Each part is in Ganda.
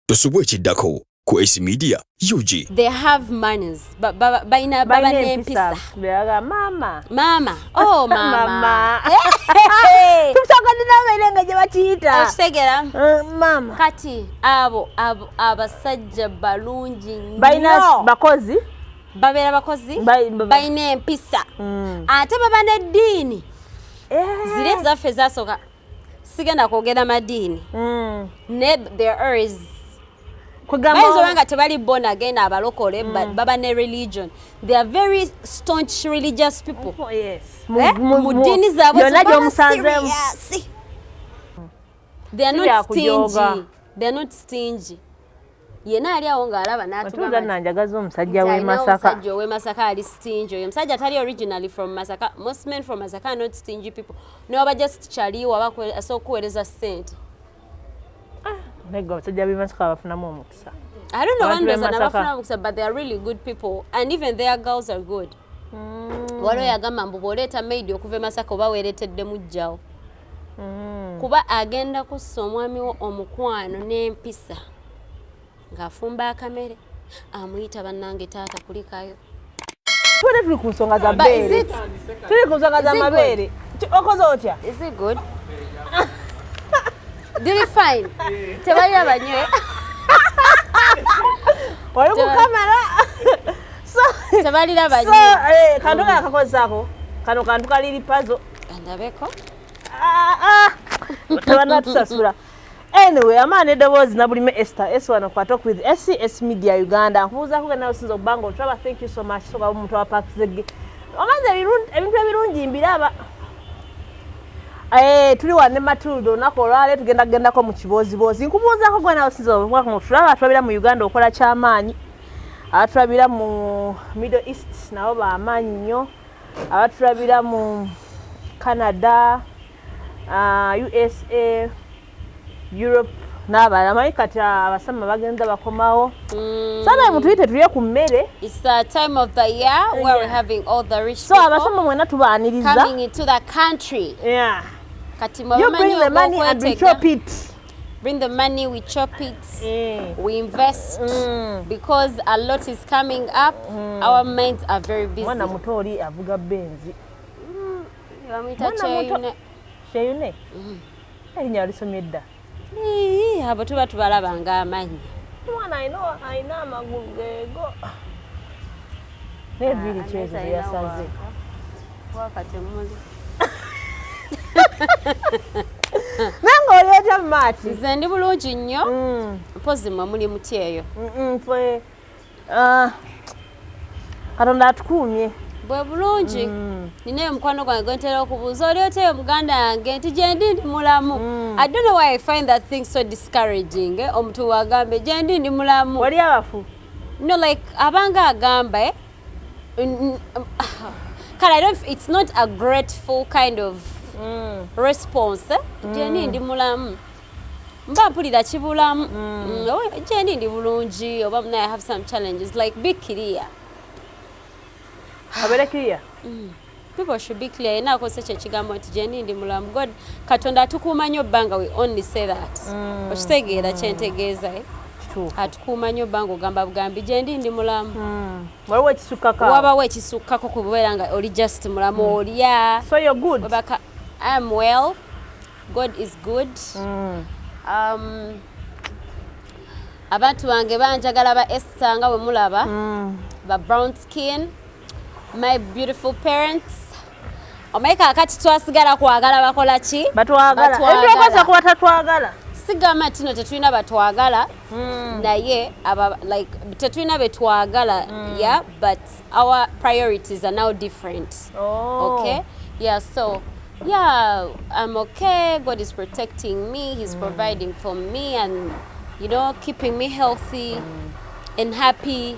tosubwa ekiddako ku ac media ug they have manners balina baba n'empisa maama maama oh maama tumusagadde abaire nga gye bakiyita okitegera eh, maama kati abo abasajja balungi nnyo balina bakozi babeera bakozi balina empisa mm. ate baba n'eddiini eh. ziri ezaffe zasooka sigenda kwogera madiini mm. ne there is kwegambaoba nga tebali born again abalokole mm. baba ne religion they are very staunch religious people oh, yes. eh? mu ddiini zaabwe they are not stingy they are not stingy yena ali awo ng'alaba n'atugamba nanjagaza omusajja w'e Masaka omusajja ow'e Masaka ali stingy oyo omusajja atali originally from Masaka most men from Masaka are not stingy people n'oba just kyali waba asobola okuweereza ssente ah, naye gwe abasajja b'e Masaka bafunamu omukisa I don't know one reason abafuna omukisa but they are really good people and even their girls are good mm. waliwo yagamba mbu bw'oleeta maid okuva e Masaka oba weereetedde mujjawo mm. kuba agenda kussa omwami wo omukwano n'empisa ng'afumba akamere amuyita bannange taata kulikayo tubadde tuli ku nsonga za beere tuli ku nsonga za mabeere okoze otya diri fine tebali abanywe oli kukamera tebalira banywe eh, kantu kakakozaako kano kantu kaliri pazo andabeko ah, ah. tabanatusasula anyway amaana edoboozi nabulime ester esi wano kwata okuith esi esi media uganda nkubuuzaku gena osinza okubanga otulaba thank you so much soka omuntu wa park zege omanzi ebintu ebirungi mbiraba eh, tuli wane matilda olunaku olwale tugenda kugendako mu kibooziboozi nkubuuzaku gwena osinza okutulaba atulabira mu uganda okola kyamaanyi atulabira mu middle east nabo bamaanyi nnyo abatulabira mu canada uh, usa europe n'abalala manyi kati abasama bagenza bakomawo mm. sana mutuyite tulye ku mmere so abasama mwena tubaaniriza kati mwabamanyi obwokwetega bring the money we chop it mm. we invest mm. because a lot is coming up mm. our minds are very busy mwana muto oli avuga benzi mm. bamuyita cheyune cheyune mm. erinya alisomye dda abo tuba tubalaba nga amanyi mwana alina amagulu gego nebiri ah, kyezo yasaze nange oli otya mumaati nze ndi bulungi nnyo mm. mpozi mwe muli muti eyo fe ah, katonda atukuumye bwe bulungi mm. nina eyo mukwano gwange gwentera okubuuza oli otya eyo muganda yange nti gyendi ndi mulamu mm. i don't know why i find that thing so discouraging eh, omuntu wagambe gyendi ndi mulamu oli abafu no like abanga agamba eh? Um, ah, kale i don't it's not a grateful kind of mm. response eh? mm. jeni ndi mulamu mba mpulira kibulamu mm. mm oh, jeni ndi bulungi oba mna i have some challenges like be clear abere clear mm. people should be clear yena akozesa ekyo ekigambo nti gyendi ndi mulamu god katonda atukuuma nnyo bbanga we only say that mm. okitegeera kyentegeeza eh? atukuuma nnyo bbanga ogamba bugambi gyendi ndi mulamu mm. wabawo ekisukkako ku bubeera nga oli just mulamu mm. olya obaka iam well god is good mm. um, abantu bange banjagala ba esta nga bwe mulaba mm. ba brown skin My beautiful parents omaye kakati twasigala kwagala bakola ki batwagalaetwekoza kuba tatwagala sigamba tino tetulina batwagala hmm. naye like tetulina betwagala hmm. yeah but our priorities are now different oh. okay yeah so yeah i'm okay god is protecting me he's mm. providing for me and you know keeping me healthy mm. and happy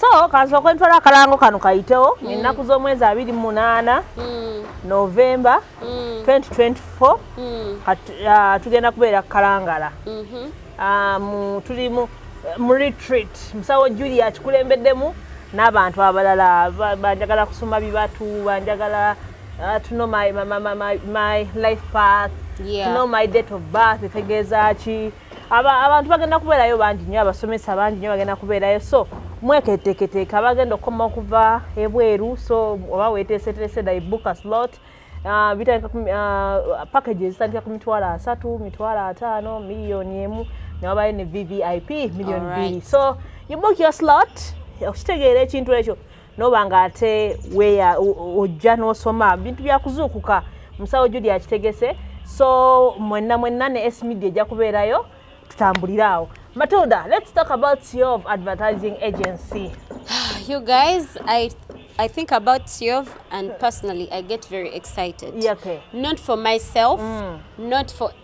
so kansooka ntwala akalango kano kayitewo mm. ennaku z'omwezi abiri munaana mm. novemba 2024 mm. ah, tugenda kubeera kukalangala mm-hmm. ah, tuli mu retreat musawo julia kikulembeddemu n'abantu abalala banjagala kusoma bibatu banjagala ah, to know my, my, my, my life path yeah. to know my date of birth etegeeza ki abantu bagenda kubeerayo bangi nyo abasomesa bangi nyo bagenda kubeerayo so mweketeeketeeka abagenda okukoma okuva ebweru so oba weteeseteese da ibuka slot ah, bitandika ah, package ezitandika ku mitwalo asatu mitwalo ataano miliyoni emu newabayo ne vvip miliyoni bbiri so ibuka your slot okitegeera ekintu ekyo noba nga ate weya ojja nosoma bintu byakuzuukuka musawo judi akitegese so mwenna mwenna ne s media ejja kubeerayo tutambulire awo matilda let's talk about your advertising agency you guys i I think about Siov and personally I get very excited. Yeah, okay. Not for myself, mm. not for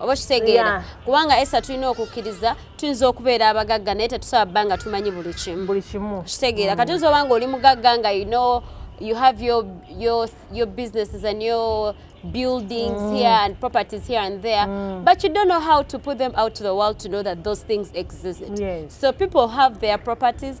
oba okitegeera kubanga esa tulina okukkiriza tuyinza okubeera abagagga naye tetusaba bba nga tumanyi buli kimu buli kimu kitegeera kati oyinza oba nga oli mugagga nga you know you have your, your, your businesses and your buildings mm. here and properties here and there mm. but you don't know how to put them out to the world to know that those things exist yes. so people have their properties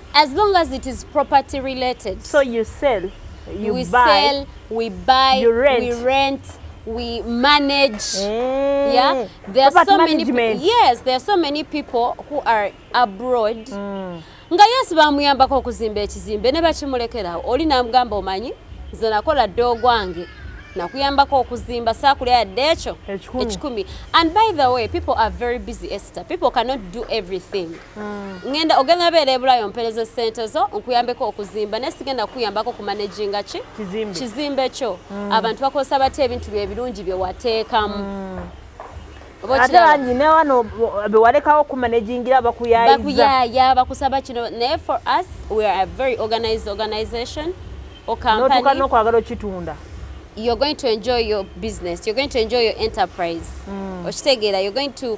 As long as it is property related. So you sell, you we buy. Sell, we buy, you rent. we rent, we manage. Mm. Yeah. There are so management. many Yes, there are so many people who are abroad. Mm. Nga yes bamuyambako okuzimba ekizimbe ne bakimulekerawo oli namugamba omanyi nze nakola dde ogwange nakuyambako okuzimba sakulya yadde ekyo ekikumi and by the way people are very busy ester people cannot do everything Mm. ngenda ogenda beera ebulayo ompereze sente zo nkuyambeko okuzimba naye sigenda kukuyambako ku managinga ki kizimbe kyo mm. abantu bakozesa batya ebintu byebirungi byewateekamu mm. ate bangi newano bewalekawo okumanagingira bakuyayizabakuyaya bakusaba kino naye for us we are a very organized organization okampannotuka nokwagala okitunda you're going to enjoy your business you're going to enjoy your enterprise mm. okitegeera you're going to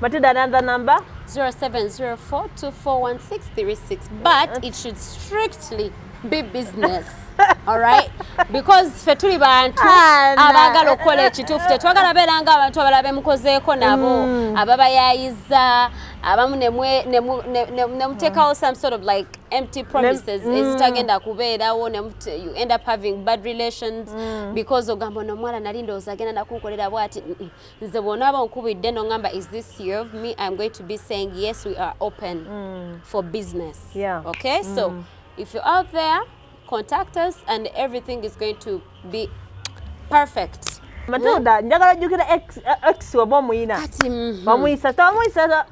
Matilda, another number? 0704241636. But it should strictly be business. alright because ffe tuli bantu ah, abaagala okukola ekituufu tetwagala beera nga abantu abala bemukozeeko nabo mm. ababayayiza abamu nemuteekawo some sort of like empty promises mm. ezitagenda kubeerawo you end up having bad relations mm. because ogamba ono omwana nali ndowooza agenda nakunkolera bwati nze bw'onaaba onkubidde n'oŋŋamba is this year of me i'm going to be saying yes we are open mm. for business yeah. okay mm. so if you're out there contact us and everything is going to be perfect matilda mm. njagala jjukira x oba omuyina mm-hmm. bamuyisa tawamuyisa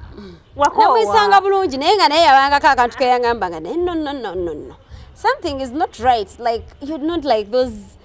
wakowamuyisanga bulungi naye nga naye yabangako akantu keyangamba nga naye no no no no no something is not right like you're not like those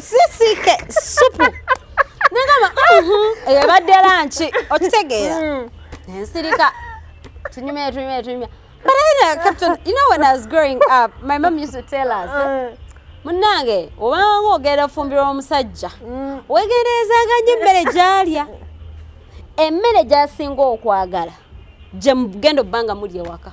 sisike supu nengamba eyabadde lanki okitegeera hmm. nensirika tunyumya tunyumya tunyumya but I know, Captain, you know when I was growing up, my mom used to tell us, uh. munange obanga ogenda ofumbirwa omusajja mm. wegenderezaanga nnyo emmere gyalya emmere gyasinga okwagala gyemugenda obba nga muli ewaka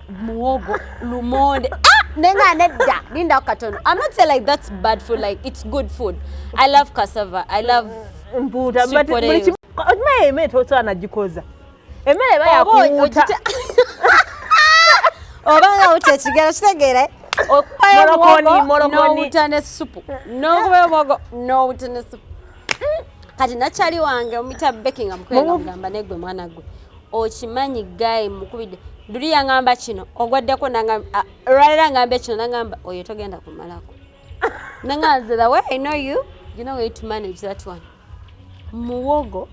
muwogo lumonde ah! nenga nedda lindako katono i'm not saying like that's bad food like it's good food i love cassava i love mpuuta okimanyi emere tosobola nagikoza emere eba yakuwuuta oba nga wuta ekigero kitegeere okupayo omuwogo nowuta ne supu nokubayo omuwogo nowuta ne supu kati nakyali wange omuyita bekinga mukwena mugamba negwe mwana gwe okimanyi guy mukubidde luli yangamba kino ogwaddeko olwalera ngambe kino nangamba oyo togenda kumalako nanganze the way i know you you know way to manage that one muwogo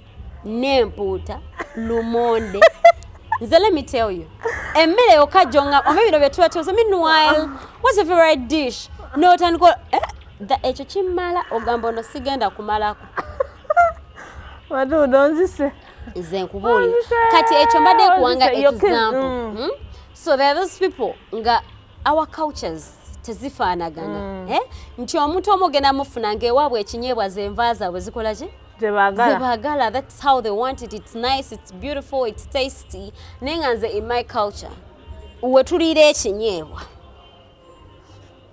n'empuuta lumonde nze let me tell you emmere yokka jonga oba ebiro bye tuba tuoze meanwhile what's your favorite dish notandika eh, ekyo kimmala ogamba ono sigenda kumalako watuuda onzise nze nkubuuli kati ekyo mbadde nkuwanga example mm. hmm? so there those people nga our cultures tezifaanagana mm. eh? nti omuntu omu ogenda mufuna ngaewaabwe ekinyeebwa zenva zaabwe zikola ki zebagala that's how they want it it's nice it's beautiful it's tasty naye nga nze in my culture wetuliira ekinyeebwa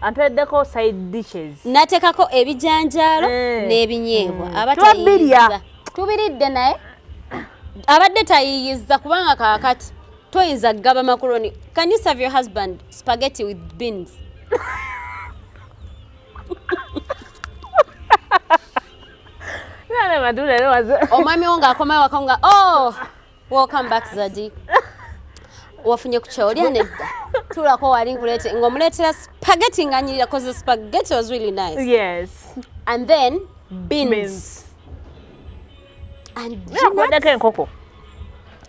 ampeddeko side dishes natekako ebijanjaalo eh. n'ebinyeebwa mm. aba tubirya tubiridde naye abadde tayiyiza kubanga kakati toyinza kugaba makuroni can you serve your husband spaghetti with beans omwami wo ng'akomayo waka nga oh Welcome back Zadi. Wafunye ku chao lya nedda. Tulako wali nkulete ngomuletera spaghetti nganyirira cause the spaghetti was really nice. Yes. And then beans. beans. And yeah, enkoko.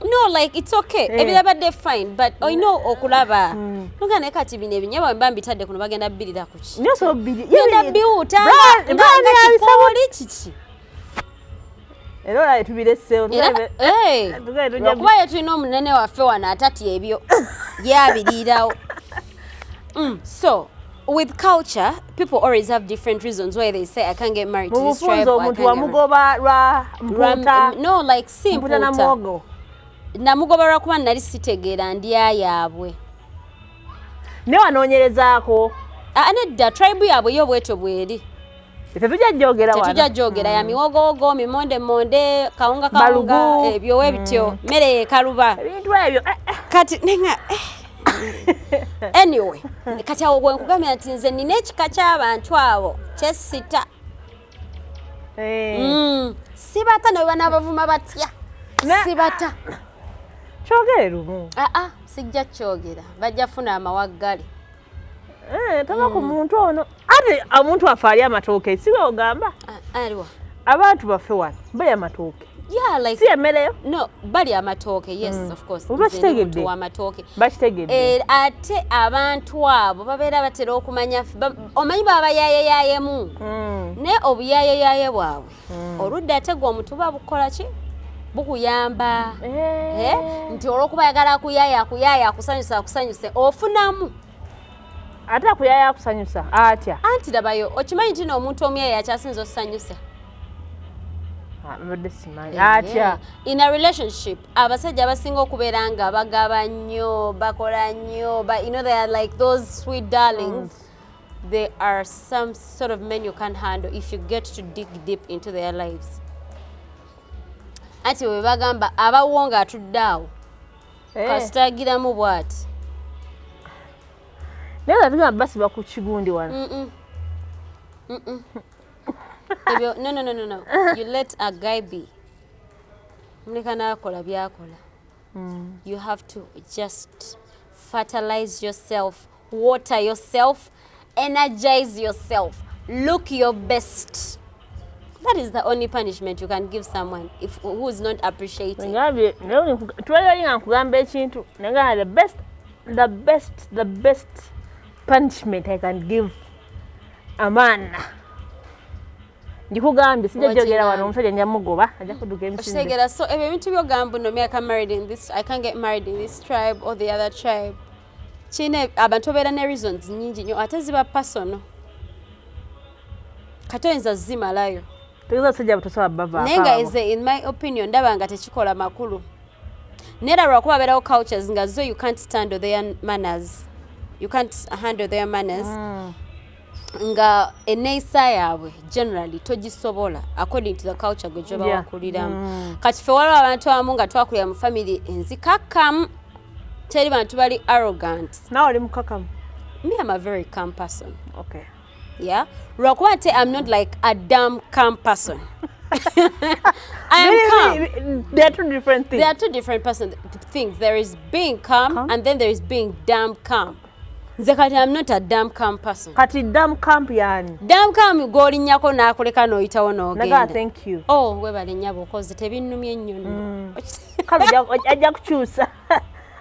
No like it's okay. Yeah. Ebirabadde fine but I know okulaba. Mm. Nuga naye kati bino ebinyebwa mba mbitadde kuno bagenda bbirira kuki. Nyo so bbiri. Yenda biwuta. Nga nga kikooli kiki. era olaba tubiresewo okuba ye tulina omunene waffe wano atatya ebyo yabiriirawo mm, so with culture people always have different reasons why they say i can't get married to this tribe omuntu wamugoba lwa mputa mm, no like si mputa namuogo namugoba lwakuba nali sitegeera ndya yaabwe ne wanoonyerezaako ah, nedda tribe yaabwe yo bwetyo bweri tetujja jogera wano tetujja jogera ya mm. miwogowogo mimonde monde kawunga kawunga ebyo eh, webityo mm. mmere mm. yekaluba ebintu ebyo eh, eh. kati nenga eh. anyway kati awo gwenkugambira nti nze nina ekika ky'abantu abo kyesita mm. sibata nawe banabavuma batya sibata kyogere lumu aa ah, ah, sijja kyogera bajja funa amawaggale Eh, tava ku mm. muntu ono ate omuntu afe ali amatooke siwe ogamba aliwa abantu baffe wano bali amatooke Yeah, like, si emereyo no bali amatooke yes mm. of course bakitegedde amatooke bakitegedde eh, ate abantu abo babeera batera okumanya omanyi baba yayeyayemu mm. ne obuyayeyaye bwabwe mm. oludda ate gwe omutuba bukola ki bukuyamba eh. Eh, nti olwokuba ayagala akuyaya akuyaya akusanyusa akusanyuse ofunamu ate akuyaya akusanyusa atya anti labayo okimanyi nti noomuntu omuyaya akyasinza osanyusa ah, eh, atya in a relationship abasajja abasinga okubeera nga bagaba nnyo bakola nnyo but you know they are like those sweet darlings mm. There are some sort of men you can't handle if you get to dig deep into their lives. Ati we bagamba abawo nga atudde awo eh. kasitagiramu bwati naye nga tugamba basiba ku kigundi wano ebyo no no no no no you let a guy be muleka nakola byakola mm. you have to just fertilize yourself water yourself energize yourself look your best that is the only punishment you can give someone if who is not appreciating ngabye nawe twala linga nkugamba ekintu nanga the best the best the best punishment i can give a man ndikugambye sijja jogera wano omusajja nja mugoba ajja kuduka emisindekitegeera so ebyo ebintu byogamba no me i can married in this i can get married in this tribe or the other tribe kine abantu obeera ne reasons nyingi nyo ate ziba personal kati oyinza zimalayo naye nga eze in my opinion ndaba nga tekikola makulu nera lwakuba abeerawo cultures nga zo you can't stand their manners you can't handle their manners mm. nga eneyisa yaabwe generally togisobola according to the culture gwe gyoba wakuliramu mm. kati fe waliwo abantu abamu nga twakulira mu famiry enzikakkamu teri bantu bali arrogant nawe oli mukakamu me am a very calm person okay. yeah lwakuba nti am not like a dam calm person I am calm. They are two different things. They are two different person things. There is being calm, calm, and then there is being damn calm. nze kati am not a dam camp person kati dam camp yani dam camp golinyako nakuleka noyitawo nogenda thank you oh webale nyabo kozi tebinnumya ennyo no mm. kale ajja kukyusa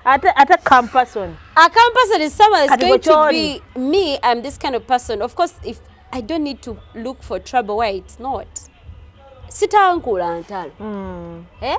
ate ate calm person a calm person is someone is going to be me i'm this kind of person of course if i don't need to look for trouble why it's not sitankula ntalo mm. eh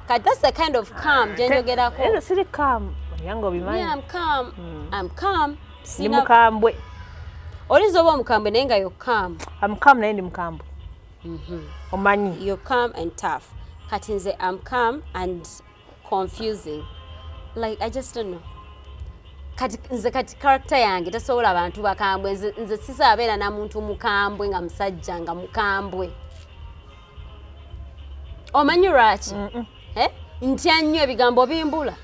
Kati that's the kind of calm gye njogerako. Era siri calm. Yango obimanyi. Yeah, I'm calm. Mm. I'm calm. Sina... Ni mukambwe. Olinza oba omukambwe naye nga you're calm. I'm calm naye ndi mukambwe. Mm -hmm. Omanyi. You're calm and tough. Kati nze I'm calm and confusing. Like I just don't know. Kati nze kati character yange tasobola abantu bakambwe nze, nze sisabeera na muntu mukambwe nga musajja nga mukambwe. omanyi lwaki eh? ntya nnyo ebigambo bimbula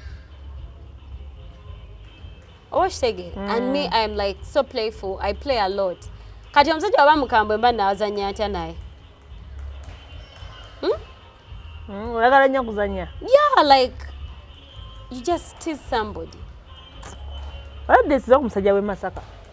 oba okitegeera mm. and me iam like so playful i play a lot kati omusajja waba mukambwe mba naazanya ntya naye hmm? mm, oyagala nnyo kuzanya yeah like you just tease somebody olabdesiza ku musajja w'e masaka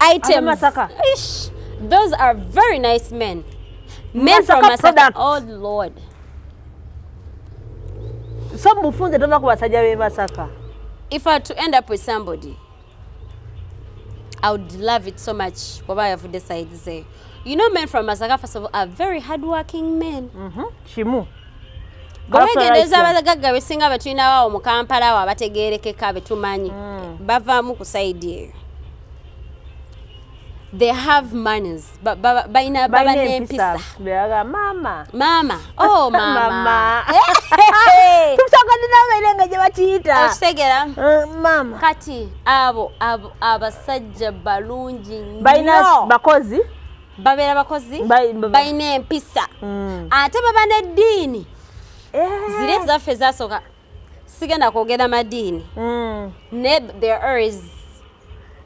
items Ish, those are very nice men men from masaka oh lord so mufunze tova ku basajja be masaka if i to end up with somebody i would love it so much bwaba yavudde side ze you know men from masaka first of all are very hardworking men mm -hmm. kimu bwewegendereza abagagga besinga betulinawawo mu kampala awo abategerekeka betumanyi mm. bavaamu ku saidi eyo they have manners balina baba n'empisa maama maama oh maama tusagadina abaire nga gye bakiyita okitegera eh, maama kati abo abasajja balungi nnyo bakozi babeera bakozi balina empisa mm. ate baba neddiini eh. ziri ezaffe zasooka sigenda kwogera madiini mm. ne there is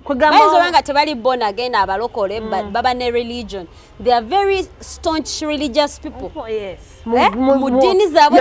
bayinza oba nga tebali born again abalokole mm. baba ne religion they are very staunch religious people oh, eh? mu ddiini zaabwe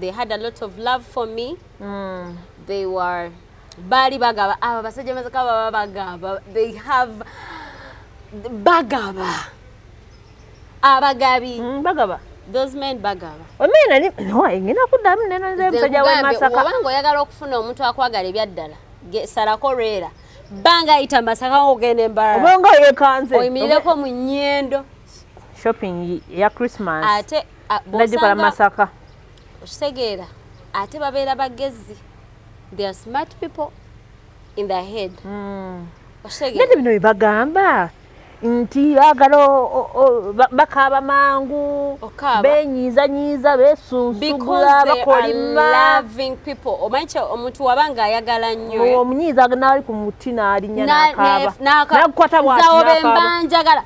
they had a lot of love for me mm. they were baali bagaba abo abasajja mazika baba bagaba they have bagaba abagabi mm, bagaba those men bagaba omena ni no ingina kudamu neno nze msaja wa masaka obango yagala okufuna omuntu akwagala ebyaddala salako rera banga ita masaka ogende mbara obango yekanze oyimireko mu nyendo shopping ya christmas ate ah, nagikola masaka okitegeera ate babeera bagezi they are smart people in their head hmm. nete bino bibagamba nti bagala bakaaba mangu benyiizanyiiza besunsugula bakolima omanyi kye omuntu waba nga ayagala nnyo omunyiiza naali ku muti naalinya nakaaba nakukwata bwati nakaaba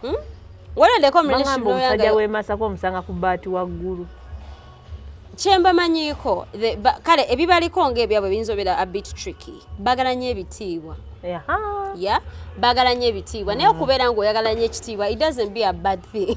Hmm? Walondeko omusajja w'emasaka omusanga ku bbaati waggulu kyembamanyiiko kale ebibaliko ngaebyabwe biyinza obeera abit tricky bagala nyo ebitiibwa ya bagala nyo ebitiibwa naye mm. okubeera ngaoyagala nyo ekitiibwa it doesn't be a bad thing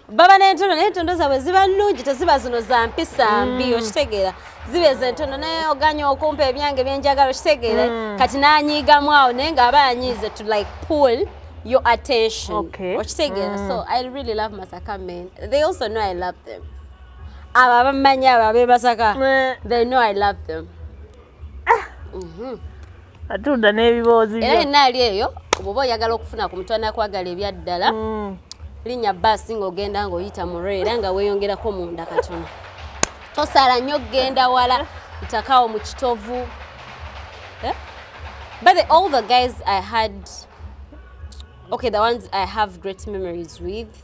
baba n'entondo naye entondo zaabwe ziba nnungi teziba zino za mpisa mm. mbi okitegeera zibeeza entondo naye oganya okumpa ebyange byenjagala okitegeera mm. kati n'anyiigamu awo naye ng'aba anyiize to like pull your attention okay. okitegeera mm. so i really love masaka men they also know i love them abo abamanyi abo abeebasaka they know i love them Ah. Mhm. Atunda n'ebiboozi byo. Era naali eyo bw'oba oyagala okufuna ku mutwe anakwagala ebyaddala. Mm. Linnya bbaasi ng'ogenda ng'oyita mu era nga weeyongerako munda katono. Tosala nnyo okugenda wala itakawo mu kitovu. Eh? But the, all the guys I had, okay, the ones I have great memories with,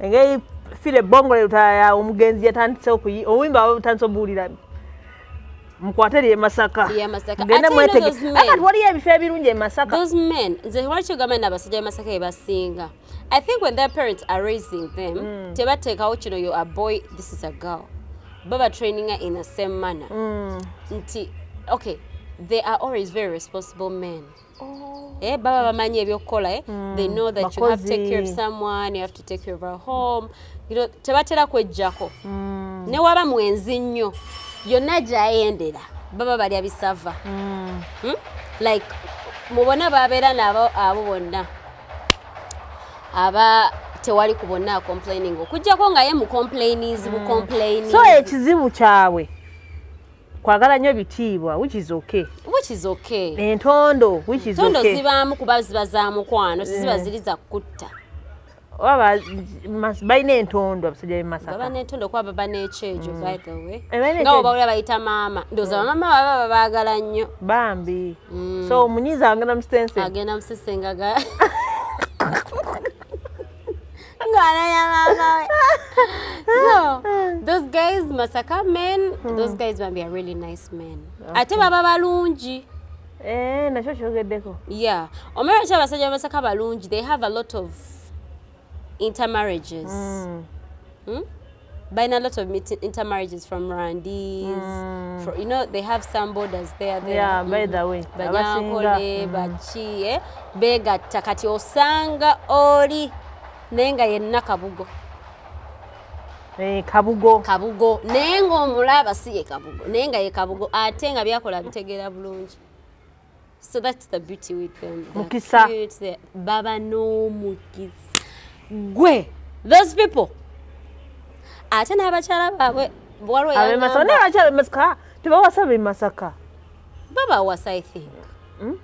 engeri file ebongo lelutaya omugenzi yatandise okuyi obuyimba butandise obuwulira mukwate lye masaka genda mwetege akati waliyo ebifo ebirungi e masaka those men nze lwaki ogamba nti abasajja be masaka bebasinga i think when their parents are raising them mm. tebateekawo kino yo a boy this is a girl baba traininga in the same manner mm. nti okay they are always very responsible men Oh. Eh, baba bamanyi ebyokukola eh? mm. they know that Bakozi. you have to take care of someone you have to take care of a home you know, tebatera kwejjako mm. ne waba mwenzi nnyo yonna gyayendera baba balya bisava mm. hmm? like mubona babeera nabo abo bonna aba tewali ku bonna acomplaining okujjako nga ye mucomplainizi bucomplaini mm. so ekizibu kyabwe kwagala nyo bitiibwa which is okay which is okay entondo which is okay tondo zibamu kuba ziba za mukwano siziba eh. zili za kutta waba mas baine entondo abasajja be masaka baba entondo kwa baba ne chejo mm. by the way eh, nga oba ule bayita mama ndoza mm. mama baba baba bagala nyo bambi mm. so munyiza angena mstense agena mstense ngaga ngwana ya mama we so those guys masaka men hmm. those guys bambi are really nice men okay. ate baba balungi eh nakyo kyogeddeko yeah omera kya basajja bamasaka balungi they have a lot of intermarriages mm. hmm? Buying a lot of intermarriages from Rwandese. Mm. For, you know, they have some borders there. there. Yeah, by the way. Banyankole, mm. Bachi, eh? Bega, Takati, Osanga, Ori, Nenga, Yenna, Kabugo. Eh, kabugo kabugo naye ngaomulaba si ye kabugo naye nga ye kabugo ate nga byakola bitegeera bulungi So that's the beauty with them. They're Mukisa. Cute. They're, baba no mukisa. Gwe, those people. Ate n'abakyala baabwe waliwo yangamba. Masaka naye abakyala Masaka tebawasa be Masaka. Baba was I think. Hmm?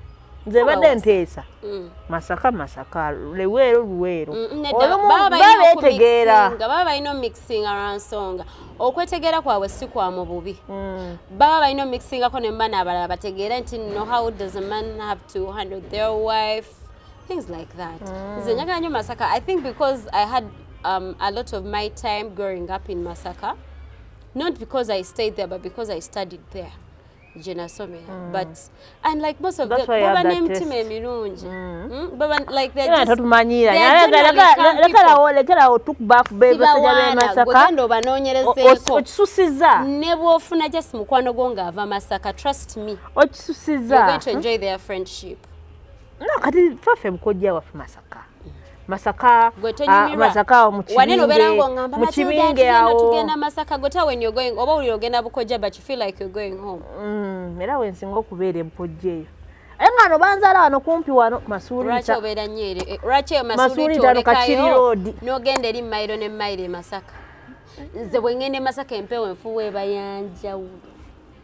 Nze badde nteesa. Hmm. Masaka Masaka Luweero Luweero. Hmm, Olumu babeetegeera. Baba balina omixing around songa. okwetegeera kwabwe si kwa mu bubi mm. baba balina omixingako ne mubana abalala bategeere nti no how does a man have to handle their wife things like that mm. nze njagala nyo masaka i think because i had um, a lot of my time growing up in masaka not because i stayed there but because i studied there gye nasomera mm. but and like most of them baba n'emitima emirungi mm. mm, baba like they just totumanyiira lekerawo lekerawo tukuba ku bebasajja b'e Masaka ogenda obanoonyerezeeko okisusiza ne bw'ofuna just mukwano gwo ng'ava Masaka trust me okisusiza you're going to enjoy their friendship no kati faffe mukojja waffe Masaka masaka ah, masaka mukibinge awotugenda masaka gota when you're going oba uliro ogenda bukoja but you feel like you're going home mm, era wensinga okubeera empojja eyo aye nga no banzala wano kumpi wano masuulita obeera nnyo ere eh, lwaki eyo masuulita olekayo n'ogenda eri mayiro ne mayiro e masaka nze bwe ŋŋenda e masaka empewo enfuwa ebayanjawulo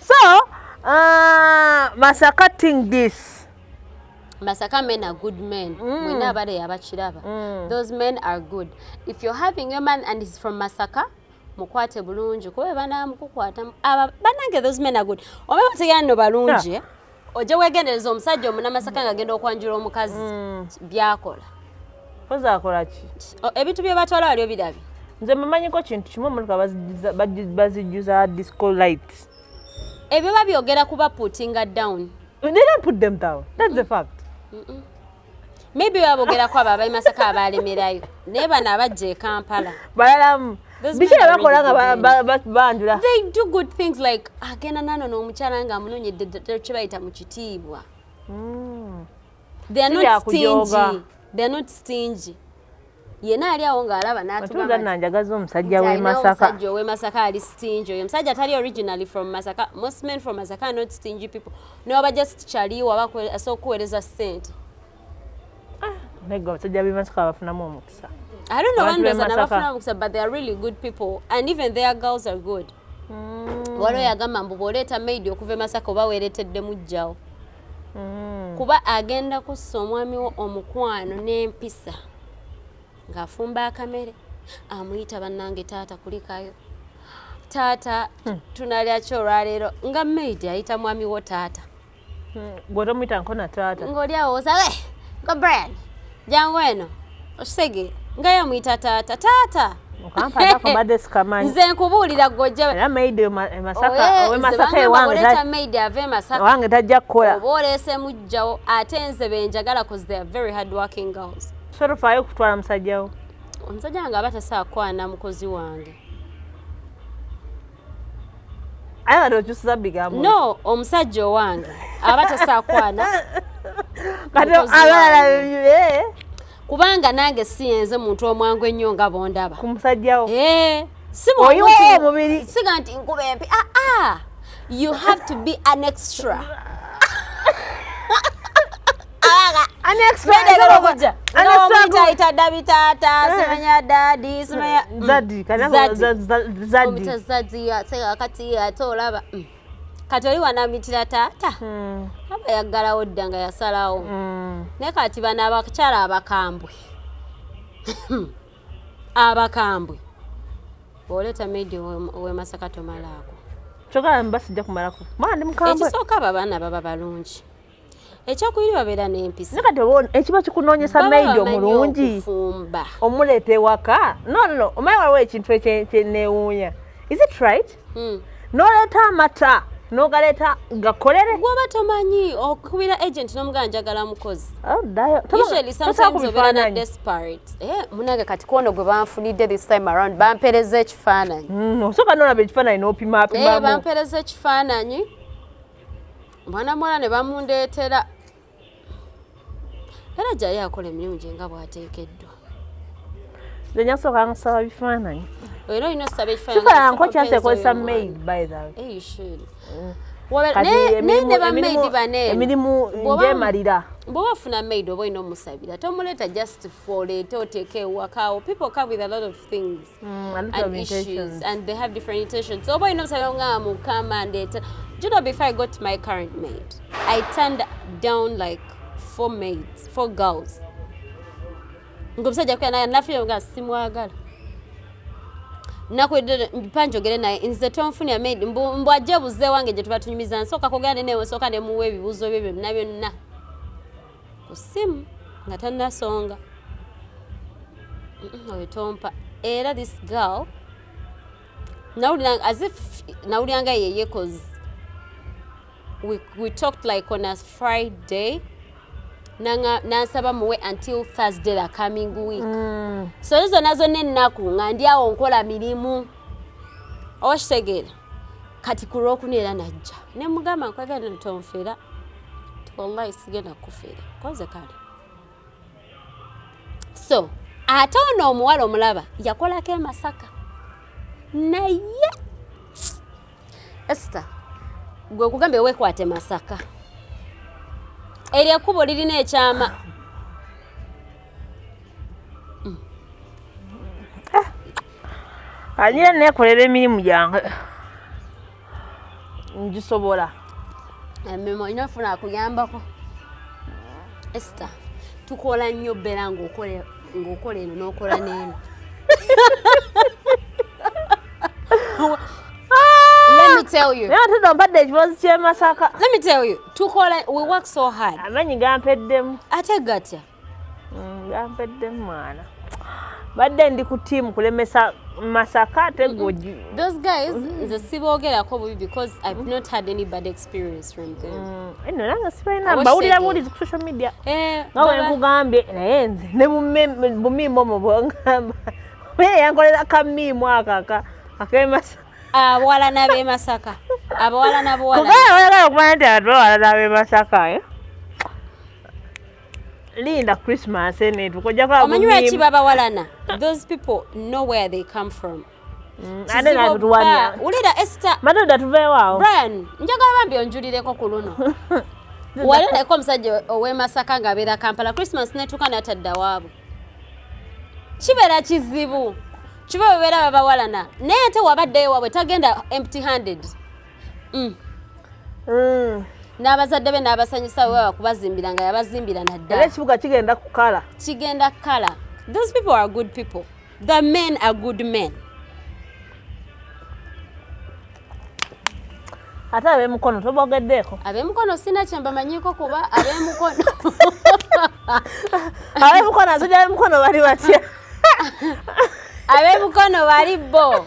so uh, masaka ting this masaka men are good men mm. mwena abale yabakiraba mm. those men are good if you're having a man and he's from masaka mukwate bulungi kuba banamukukwata banange those men are good oba bategera no balungi yeah. ojja wegendereza omusajja omunamasaka nga agenda okwanjula omukazi mm. byakola poza akola ki ebintu bye batwala wali obirabye nze mumanyiko kintu kimu omuntu bazijjuza disco light ebyo babyogera kuba putinga down They don't put them down. That's mm -mm. the fact. Mm maybe babogerako abo abali masaka abalemerayo naye bano abajja e kampala balalamu biki bakola nga banjula they do good things like agenda nano n'omukyala nga amunonyedde kyebayita mu kitiibwa hmm. they are not stingy they are not stingy yena ali awo ng'alaba n'atugamba nanjagaza omusajja w'e Masaka omusajja ow'e Masaka ali stingy oyo omusajja atali originally from Masaka most men from Masaka not stingy people n'oba just chali waba asobola okukuweereza ssente ah, naye gwe abasajja b'e Masaka bafunamu omukisa I don't know one reason abafuna omukisa but they are really good people and even their girls are good mm. waliwo yagamba mbu bw'oleeta maid okuva e Masaka oba weereetedde mujjawo mm. kuba agenda kussa omwami wo omukwano n'empisa ng'afumba akamere amuyita bannange taata kulikayo taata hmm. tunalya ki olwaleero nga maid ayita mwami wo taata hmm. gwetomuyita nkona taata ng'oli awo osawe eh, go brian jangu eno okisege nga yamuyita taata taata nze nkubuulira gojjawange e tajja kukola oba oleese mujjawo ate nze benjagala cause they are very hard working girls sorofaayo okutwala musajjawo omusajja wange aba tasaakwana mukozi wange aye bano okyusiza bigambo no omusajja owange aba tasakwana kati abalala eh. kubanga nange siyenze muntu omwangu ennyo nga bondaba ku musajjawo eh, simumubiri siga nti nkuba empi aa ah, ah. you have to be an extra kati oli wanamitira taata hmm. aba yaggalawo dda nga yasalawo hmm. naye kati bano abakyala abakambwe abakambwe oleeta medi wemasaka tomalaako kyogamba basijja kumalako mwana ndi mukambwe ekisooka abo abaana baba balungi ekyokubiri babeera n'empisa nakati ekiba kikunoonyesa maidi omulungi omuleeta ewaka no no omaye waliwo ekintu ekyenewuunya is it right hmm. noleeta amata nogaleeta gakolere gwoba tomanyi okubira agent nomugaa njagala mukozi oh, eh, munange kati kwono gwe banfunidde this time around bampereza ekifaananyi hmm, osoka nolaba ekifaananyi nopimapimabampereza eh, ekifaananyi mwana muwala ne bamundeetera era jayo akola emirimu gye nga bwateekeddwa nenyasooka nkusaba bifaananyi era olina osaba ekifaananyinkokyasekozesa maid by the way mm. emirimu gyemalira bwoba ofuna maid oba olina omusabira tomuleeta just for leeta oteeka ewakawo people come with a lot of things Mm, and, and issues and they have different intentions so boy knows I'm will come and it do you know before I got to my current maid I turned down like four maids four girls ngomusajja kuyana nafira nga simwagala nakwedde mpa njogere naye nze tonfunira maid mbu ajja buze wange gye tuba tunyumiza nsooka kugenda nenewe nsooka nemuwa ebibuuzo byo byonna byonna ku ssimu nga tannasonga oyo tompa era this girl as if nawulira nga yeye cause we, we talked like on a friday nansaba muwe until thursday the coming week mm. so zona zonna ennaku nga ndi awo nkola mirimu owakitegeera kati ku lwokuna era najja ne mugamba nkwagala tonfera wallahi sigenda kufera koze kale so ate ono omuwala omulaba yakolako emasaka naye esta gwe kugambye wekwate masaka eryo ekkubo lirina ekyama agira nekolera emirimu gyange ngisobola emirimu olina ofuna akuyambako esita tukola nnyo bera ngaokola eno nokola neeno mpadde ekibazi kyemasaka tukola we work so hard amanyi gampeddemu ate gatya gampedde mm, mwana badde ndi ku tiimu kulemesa masaka ate goji those guys nze siboogerako bubi because i've mm-hmm. not had any bad experience from them mm, eno nange sibalina mbawulira buwulizi ku social media eh, nga bwe nkugambye naye nze ne bumiimu omo bwongamba naye yankolera kamiimu akaka akemasaka abawala n'abemasaka abawala n'abawala kubanga oyagala okumanya nti abawala n'abemasaka eh? linda christmas enetu kojja kulaba omanyi lwaki babawalana those people know where they come from mm, ate natutuwanya wulira ester madoda tuveewaawo brian njagala bambi onjulireko ku luno wali oleka omusajja ow'emasaka ng'abeera kampala christmas netuuka natadda waabwe kibeera kizibu kiba bebeera babawalana naye ate wabaddeyo waabwe tagenda empty handed mm. mm. n'abazadde be n'abasanyusa wewa kubazimbira nga yabazimbira naddala era ekibuga kigenda kukala kigenda kukala those people are good people the men are good men ate abemukono tobogeddeeko abemukono sina kyembamanyiko kuba abemukono abemukono azoja abemukono bali batya abemukono bali bo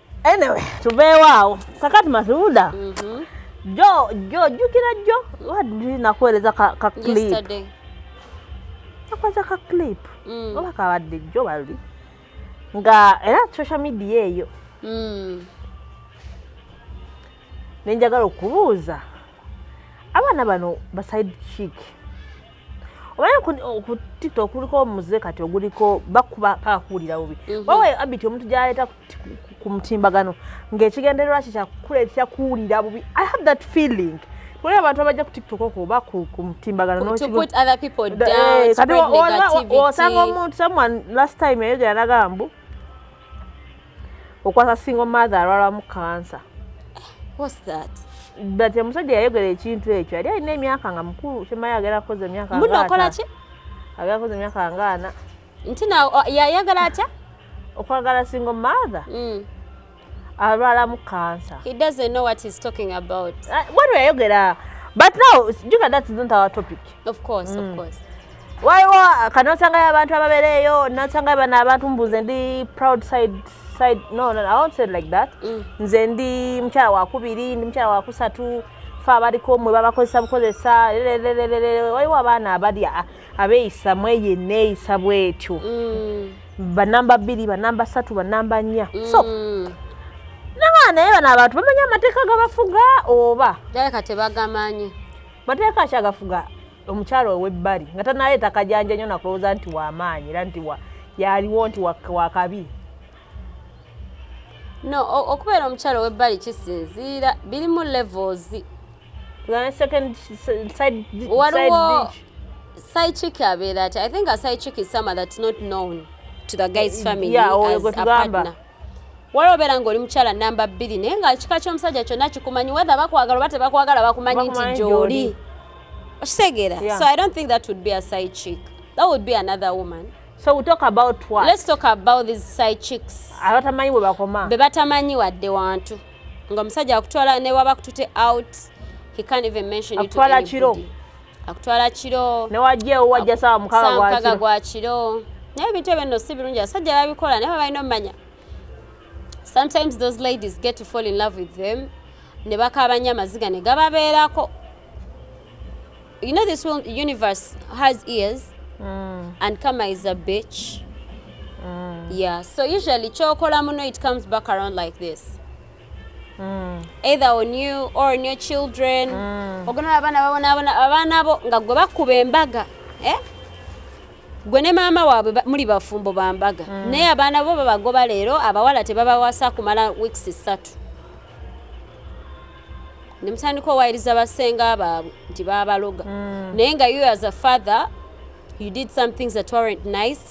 Anyway, tuveewo awo kakati Masuuda mm -hmm. jo jo jukira jo waddi nakuweereza ka, ka clip nakuweereza ka clip mm. oba kabadde jo bali nga era social media eyo mm. nenjagala okubuuza abaana bano baside chick obaye oh, ku tiktok kuliko omuze kati oguliko bakuba paka kuwulira bubi mhm. wawe abiti omuntu gyaleeta ku mutimbagano ng'ekigendererwa kye kyakuleetera kuwulira bubi i have that feeling kuli abantu abajja ku tiktok okwo oba ku mutimbagano eh, osanga omuntu someone last time yayogera nagamba okwasa single mother alwalamu kansa but omusajja yayogera ekintu ekyo yali alina emyaka nga mukulu kyemaye agera kukoza emyaka munokolaki agera kukoza emyaka ngaana nti na yayagala atya okwagala single mother mm. alwalamu kansa he doesn't know what he's talking about uh, what weyayogera but now juga that's not our topic of course mm. of course waliwo kanosangayo abantu ababereeyo nasangayo bana abantu mbuze ndi proud side side no, no, i won't say like that mm. nze ndi mukyala wakubiri ndi mukyala wakusatu fe abaliko mwe babakozesa bukozesa lelelelelele waliwo abaana abali abeeyisa mweyo eneeyisa bwetyo mm. banamba bbiri banamba satu banamba nnya mm. so nabaana naye bano abantu bamanya amateeka gabafuga oba kati bagamanyi mateeka akyagafuga omukyalo owebbali nga tanaye takajanja nyo nakulowooza nti wamaanyi era nti yaliwo nti wakabi no okubeera omukyalo owebbali kisinziira birimu levels waliwo psychic abeera ati i think a psychic is someone that's not known to the guy's eh, family yeah, as a partner waliwo obeera ng'oli mukyala namba bbiri naye nga ekika ky'omusajja kyonna kikumanyi wether bakwagala oba tebakwagala bakumanyi nti gyoli okitegeera so i don't think that would be a side chick that would be another woman so we talk about what? let's talk about these side chicks abatamanyi bwe bakoma be batamanyi wadde wantu nga omusajja akutwala newaba kutute out he can't even mention it to anybody. akutwala kiro newajja ewo wajja sawa mukaga gwa kiro naye ebintu ebyo nno si birungi abasajja babikola naye babalina omumanya sometimes those ladies get to fall in love with them ne bakaba nnyo amaziga ne gababeerako you know this universe has ears mm. and kama is a bitch mm. yeah so usually kyokola muno it comes back around like this mm. either on you or on your children mm. ogonaba abaana babonabona abaana bo nga gwe bakuba embaga eh? gwe ne maama waabwe muli bafumbo bambaga mm. naye abaana bo babagoba leero abawala tebabawasa kumala weeks ssatu nemutandika owayiriza basenga baabwe nti babaloga mm. naye nga you as a father you did some things that weren't nice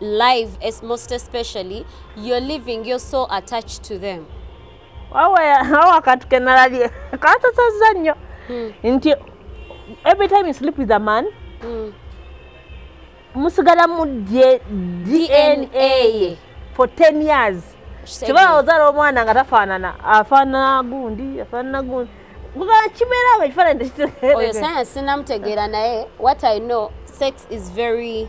live as most especially you're living you're so attached to them awa kantu kenalabye kansasazza nnyo hmm. nti every time you sleep with a man hmm. musigala mu dna ye for 10 years kibala ozala omwana nga tafaanana afaanana gundi afaanana gundi kibeerawo ekifaanani oyo sayansi sinamutegeera naye what i know sex is very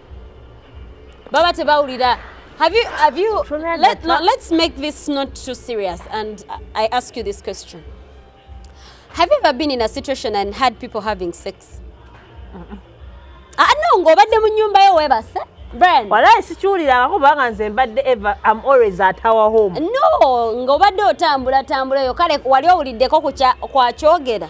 baba tebawulira Have you, have you, let, no, let's make this not too serious and I ask you this question. Have you ever been in a situation and had people having sex? Uh-uh. Ah, no, ngo obadde mu nyumba yo webase. Brian. Walayi sikiwulira kubanga nze mbadde ever I'm always at our home. No, ngo obadde otambula tambula yo kale wali owuliddeko ku kwa kyogera.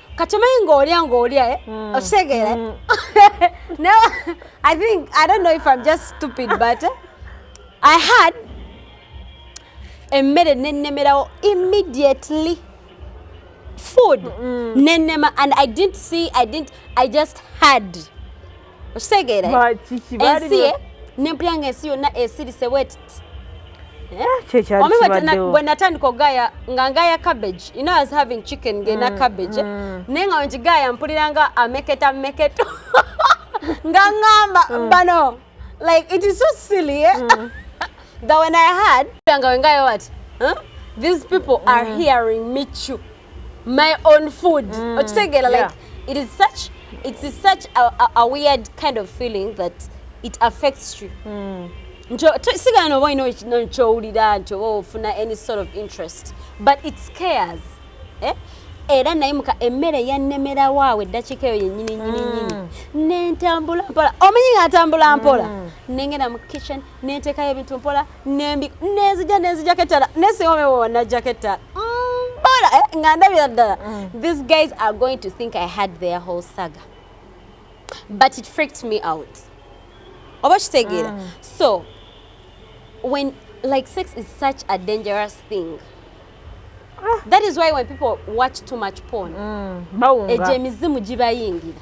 kati omanyi ng'olya ng'olya eh? hmm. okitegeera hmm. no i think i don't know if i'm just stupid but eh, i had emmere nennemerawo immediately food mm. nenema and i didn't see i didn't i just had okitegeera ensi ye nempulira nga ensi yonna esirise wet eh? omi bwe natandika okugaaya nga ngaaya cabbage you know as having chicken ngena mm, cabbage eh? mm. naye nga wengigaaya mpulira nga ameketa meketo nga ngamba mm. bano like it is so silly eh? mm. that when i had nga wengayo what huh? these people mm. are hearing me chew my own food mm. okitegera like yeah. it is such it's such a, a, a weird kind of feeling that it affects you mm. sigala noba olina nokyowulira nti oba ofuna any sort of interest but it scares eh? era naye muka emmere yannemera waawo eddakiika eyo yennyini nyininyini mm. nentambula mpola omanyi nga atambula mpola mm. nengenda mu kitchen nentekayo ebintu mpola nembi nenzija nenzijako ettala nesingomewo wanajjako ettala mbola mm, eh, nga ndabira ddala mm. these guys are going to think i had their whole saga but it freaked me out oba kitegeera mm. so when like sex is such a dangerous thing ah. that is why when people watch too much porn mm. ejemizimu gibayingira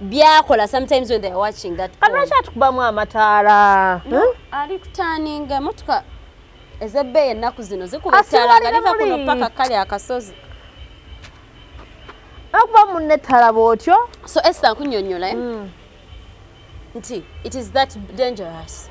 byakola sometimes when they are watching that kati lwaki atukubamu amataala ali kutaninga emotoka ezebbeeyi ennaku zino zikuba ettaala nga liva kuno paka kale akasozi akuba munne ettala bwotyo so esa nkunyonyola eh? mm. nti it is that dangerous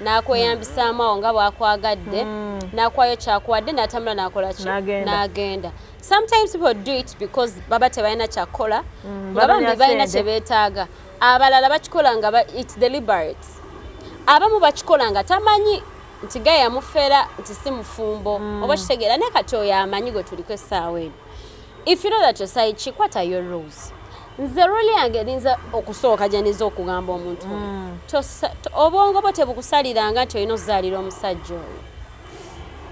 n'akweyambisaamu awo nga bwakwagadde hmm. n'akwayo kyakuwadde n'atambula n'akola ki n'agenda sometimes people do it because baba tebalina kyakukola hmm, nga bambi balina kye beetaaga abalala bakikola nga its deliberate abamu bakikola nga tamanyi nti ga yamufera nti si mufumbo hmm. oba kitegeera naye kati oyo amanyi gwe tuliko essaawa eno If you know that your side chick, what are your rules? nze ruli yange erinza okusooka gyeniza okugamba omuntu mm. obwongo bwo tebukusaliranga nti olina okuzaalira omusajja oyo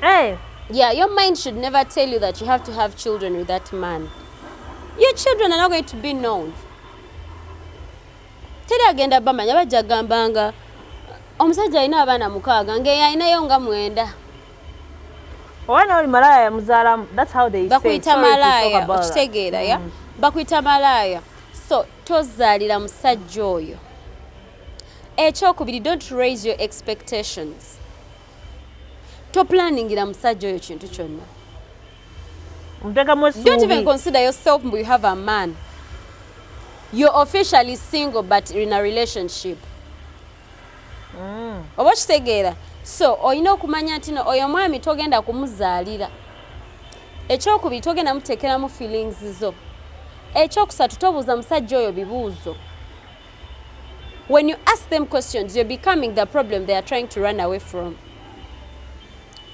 eh. yeah your mind should never tell you that you have to have children with that man your children are not going to be known teri agenda bamanya bajja gambanga omusajja alina abaana mukaaga ngeyalinayo nga mwenda Owana oli malaya ya muzala that's how they say. Bakuita malaya okitegeera ya. Mm. Bakuita malaya. So tozalira musajja oyo. Ekyokubiri don't raise your expectations. To planning ira musajja oyo kintu kyonna. Mtekamu suubi. Don't even consider yourself mbu you have a man. You're officially single but in a relationship. mm. oba okitegeera so olina okumanya nti no oyo omwami togenda kumuzaalira ekyokubiri togenda muteekeramu feelings zo ekyokusatu tobuuza musajja oyo bibuuzo when you ask them questions you're becoming the problem they are trying to run away from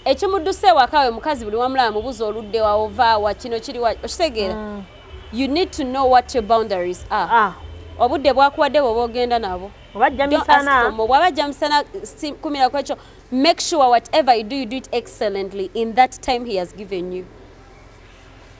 ekimuddusa ewaka we mukazi buli wamulaba mubuuza oludde waovaawa kino kiri wa okitegeera mm. you need to know what your boundaries are ah. obudde bwakuwadde bwoba ogenda nabo obajja misana bwabajja misana kumira kwekyo make sure whatever you do you do it excellently in that time he has given you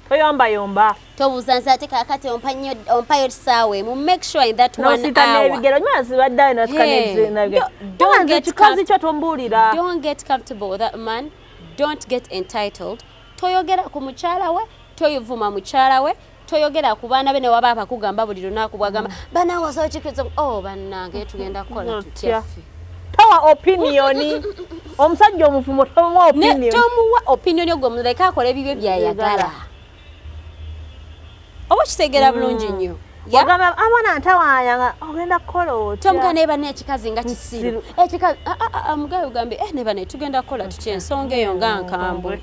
toyomba yomba tobuuza nze ate kakati ompayo kisaawa emu make sure in that one hournebigero nyuma zibaddayo nasikanekikazi kyo tombuulira don't get comfortable with that man don't get entitled toyogera ku mukyala we toyivuma mukyala we toyogera ku baana be ne waba abakugamba buli lunaku bwagamba mm. banawasawo kikiriza o oh, bannange tugenda kukola tutyaffe towa opiniyoni omusajja omuvumo tomuwa opiniyoni tomuwa opiniyoni ogwo muleke akola ebibyo byayagala oba kitegera mm. bulungi nnyo wagamba amwana ntawayanga ogenda kukola otya tomuga neba nekikazi nga kisiru ekikazi ah, ah, ah, mugayo gambe eh, neba netugenda kukola tutya ensonga eyo nga nkambwe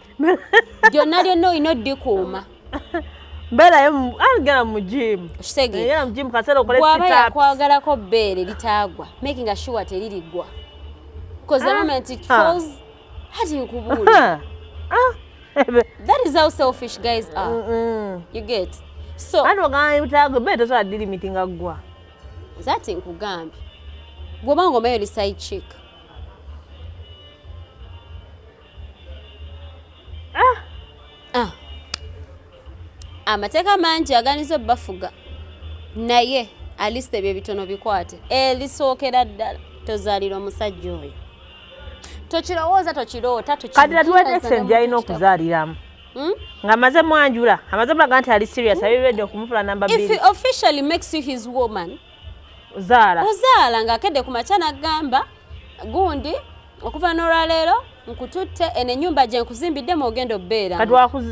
lyonna lyonna olina oddikuuma mbeerayo agenda mu jimu kitegeera mu jimu kaseera okole bwaba yakwagalako bbeere litaagwa making a sure teririggwa because the ah. moment it ah. falls hati nkubuulira ah. that is how selfish guys are mm -mm. you get so ati ogamba ebitaago bbe tosobola dilimiti nga ggwa zati nkugambye gwoba ngomayo li side chick ah! Ah! amateeka mangi aganiza obubafuga naye aliste ebyo ebitono bikwate elisookera eh, ddala tozaalira omusajja oyo tokirowooza tokiroota kadira tuwetese nti alina okuzaaliramu hmm? nga maze mwanjula amaze mulaga nti ali serious hmm? abiredde okumufula namba bbiri officially makes you his woman ozaala ozaala ng'akedde ku makya n'agamba gundi okuva n'olwaleero nkututte eno enyumba gye nkuzimbidde mwogenda obeera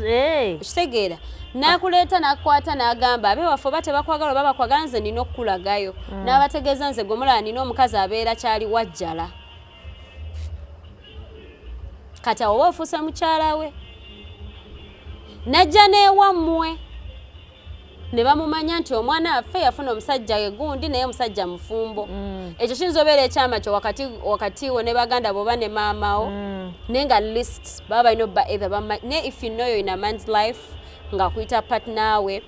eh. kitegeera nakuleeta nakukwata nagamba abe waffe oba tebakwagala oba bakwagala nze nina okukulagayo mm. nabategeeza nze gwemulala nina omukazi abeera kyali wajjala kati awoba ofuuse mukyala we najja newammwe ne bamumanya nti omwana waffe yafuna omusajja we gundi naye omusajja mufumbo mm. ekyo kiyinza obeera ekyama kyo wakati wo ne baganda boba ne maama wo mm. naye nga list baba balina obba ether ne if you know yo in a man's life nga kuyita partner we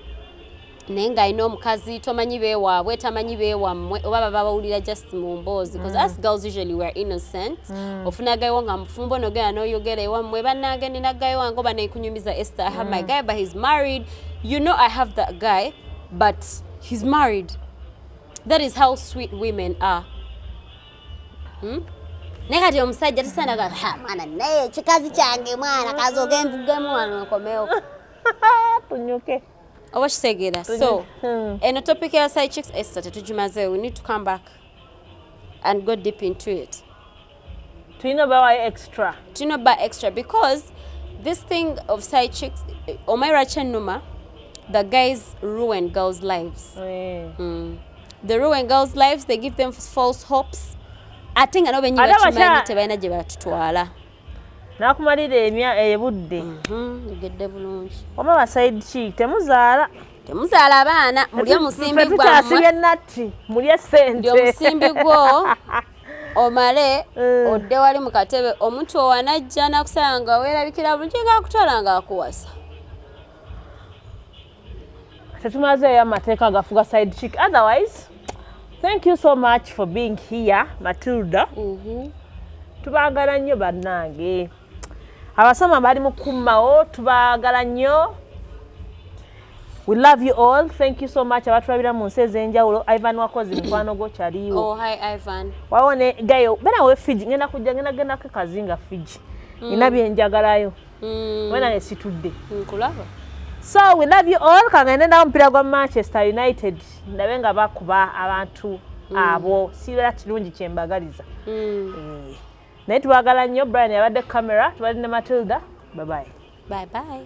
naye nga alina omukazi tomanyi bewaabwe tamanyi bewammwe oba baba bawulira just mu mboozi bcause mm. us girls usually weare innocent mm. ofuna gayiwo nga mufumbo nogenda noyogera ewammwe banange nina gayi wange oba nekunyumiza ester i have my mm. guy but he's married You know I have that guy but he's married. That is how sweet women are. Hmm? naye kati omusajja tisandaga mwana naye kikazi kyange mwana kazi ogenzigemu wano nkomewo tunyuke oba kitegeera so hmm. eno topic ya side chicks esta tetugimazeewo we need to come back and go deep into it tulina obawayo extra tulina oba extra because this thing of side chicks omayi lwaki ennuma the guys ruin girls lives yeah. mm. the ruin girls lives they give them false hopes ate nga nobenyi bakimanyi tebalina gye batutwala nakumalira emya ebudde mhm, egedde bulungi oba basaidi ki temuzaala temuzaala abaana mulye musimbi gwamusimbi gwo omale eh. odde wali mu katebe omuntu owanajja nakusala nga weerabikira bulungi nga akutwala nga akuwasa tetumazeeyo amateeka agafuga side chick otherwise thank you so much for being here matilda mm -hmm. tubagala nnyo bannange abasoma bali mukumawo tubagala nnyo we love you all thank you so much abatulabira mu nsi ez'enjawulo ivan wakozi mukwano gwo kyaliwo oh, wawo ne gayo bena we fiji ngenda kujja ngenda genda ke kazinga fiji mm. ina byenjagalayo mm. wena ne situdde nkulaba so we love you all kangende nawo omupiira gwa manchester united ndabe nga bakuba abantu mm. abo sibeera kirungi kyembagaliza mm. eh. naye tubagala nnyo brian yabadde camera tubadde ne matilda babaye bye bye